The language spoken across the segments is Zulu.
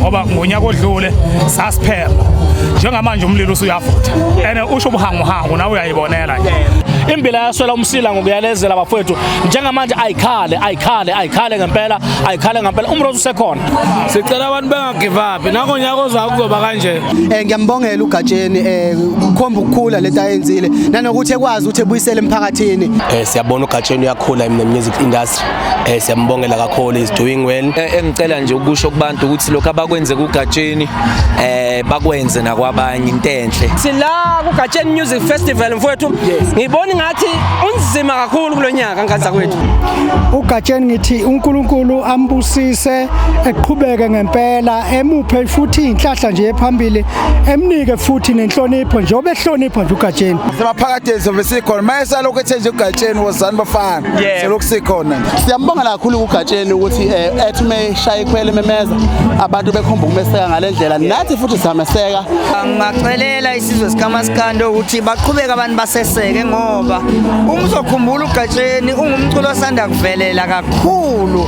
ngoba ngonyaka odlule sasiphela njengamanje umlilo usuyavutha and usho ubuhanguhangu nawe uyayibonela nje imbila yaswela umsila ngokuyalezela abafowethu njengamanje ayikhale ayikhale ayikhale ngempela ayikhale ngempela umrozo usekhona sicela abantu give up nako nyaka ozayo kuzoba kanje eh ngiyambongela uGatsheni eh ukhomba ukukhula lento ayenzile nanokuthi ekwazi ukuthi ebuyisele emphakathini eh siyabona uGatsheni uyakhula in the music industry eh siyambongela kakhulu is doing well eh, engicela nje ukusho kubantu ukuthi lokho abakwenze kuGatsheni eh bakwenze nakwabanye into enhle sila kuGatsheni Music Festival mfowethu ngibona ngathi unzima kakhulu kulonyaka nkaza kwethu uGatsheni ngithi uNkulunkulu ambusise eqhubeke ngempela emuphe futhi inhlahla nje ephambili emnike futhi nenhlonipho njengoba ehlonipha nje uGatsheni simaphakade sobe sikhona maye salokhu ethe nje uGatsheni wozani bafana selokhu sikhona siyambonga kakhulu uGatsheni ukuthi eh, ethi umeshaya ikhwele memeza abantu bekhomba ukumeseka ngalendlela nathi futhi sameseka ngingacelela isizwe sikamasikande ukuthi baqhubeke abantu baseseke ngoba uma uzokhumbula uGatsheni ungumculo osanda kuvelela kakhulu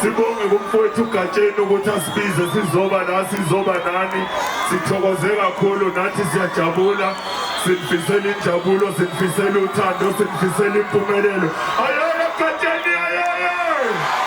Sibonge kumfowethu uGatsheni ukuthi asibize sizoba la sizoba nani. Sithokoze kakhulu nathi siyajabula. Sinifisela injabulo, sinifisela uthando, sinifisela impumelelo. Ayona Gatsheni ayeye!